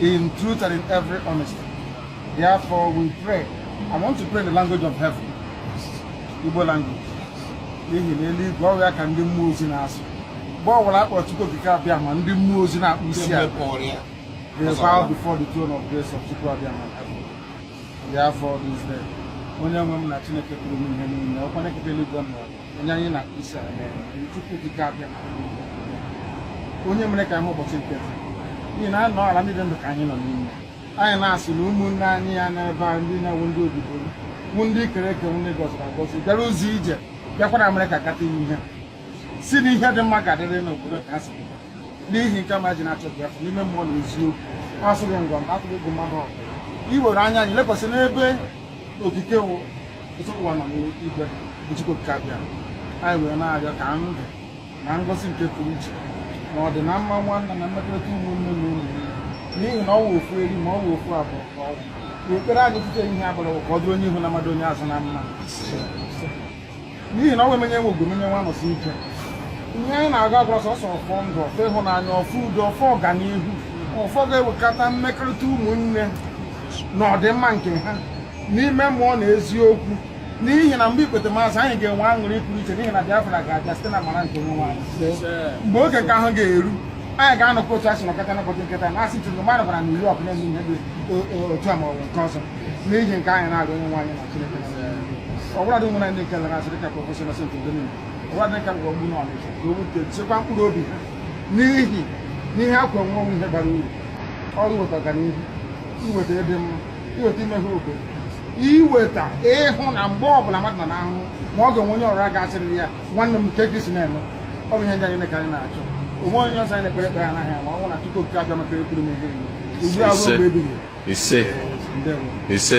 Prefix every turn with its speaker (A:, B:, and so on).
A: in truth and in every honesty. Therefore, we pray. I want to pray in the language of heaven, Igbo language. N'ihi n'eluigwe ọ wụ ya ka ndị mmụọ ozi na-asụ. Mgbe ọ bụla a kpọrọ Chukwu Okike Abịama ndị mmụọ ozi na-akpọ isi ala. They bow before the throne of grace of Chukwu Abịama heaven. Therefore, this day, onye nwe m na Chineke pụrụ ime ihe niile, ọkwa na-ekete eluigwe m onye anyị na-akpọ isi ala Chukwu Okike Abịama onye mere ka anyị hụ ụbọchị nke taa n'ihi na ọ n'ala ndị dị ndụ ka anyị nọ n'ime anyị na-asị na ụmụnne anyị nọ n'ebe a ndị na-awụ ndị obibo wụ ndị e kere eke ndị a gọziri agọzi bịara ụzọ ije bịakwara America ịkpata ihe sị na ihe dị mma ga-adịrị n'obodo nke ha si n'ihi nke a m ji na-achọ Biafra n'ime mmụọ na eziokwu asọghị ngwa mba atụghị egwu mmadụ ọbụla iwere anya anyị lekwasị n'ebe Okike wụ Ọtụtụ ụwa nọ n'igwe bụ Chukwu Okike Abịama anyị wee na-arịọ ka ndụ na ngọzi nke pụrụ iche na ọdịnamma nwanne na mmekọrịta ụmụnne na ụmụ n'ihi na ọnwa ofu eri ma ọnwa ofu abụọ ka ọ wụ na ekpere anyị tụte ihe abụrụ ka ọ dị onye ihu na mma dị onye azụ na mma n'ihi na ọnwa emenye nwe ogbomenye nwa nọsi ike ihe anyị na-agọ awụrụ sọsọ ọfọ ndụ ọfọ ịhụnanya ọfọ udo ọfọ ọganihu ọfọ ga-ewekọta mmekọrịta ụmụnne na ọdịmma nke ha n'ime mmụọ na eziokwu n'ihi na mgbe ikpetemazụ anyị ga-enwe aṅụrị pụrụ iche n'ihi na Biafra ga-abịa site n'amara nke onye nwe anyị mgbe oge nke ahụ ga-eru anyị ga-anọkọ otu e si nọkọta n'ụbọchị nke taa na-asị ọtụtụ mmadụ bịara New York na-eme ihe dị otu a ma ọ bụ nke ọzọ n'ihi nke a anyị na-arịọ onye nwe anyị na Chineke ọ bụla dị nwere ndị nke lara asịrị ka Professor Innocent ndị niile ọ bụla dị ka mgbe ọgbụ n'Ọnịcha ka o wute chekwa mkpụrụ obi ha n'ihi n'ihe ha kwọ nwụọ wụ ihe bara uru ọ wụ iweta ọganihu iweta ịdị mma iweta imeghe obodo iweta ịhụ na mgbe ọbụla mmadụ nọ n'ahụhụ ma ọ ga-enwe onye ọzọ ga-asịrị ya nwanne m kee ka i si na-eme ọ bụ ihe ndị a ka anyị na-achọ o nweghị onye ọzọ anyị na-ekpe ekpere n'aha ya ma ọ wụghị na Chukwu Okike Abịama nke pụrụ ime ihe ugbu a ruo mgbe ebighị ebi ise ise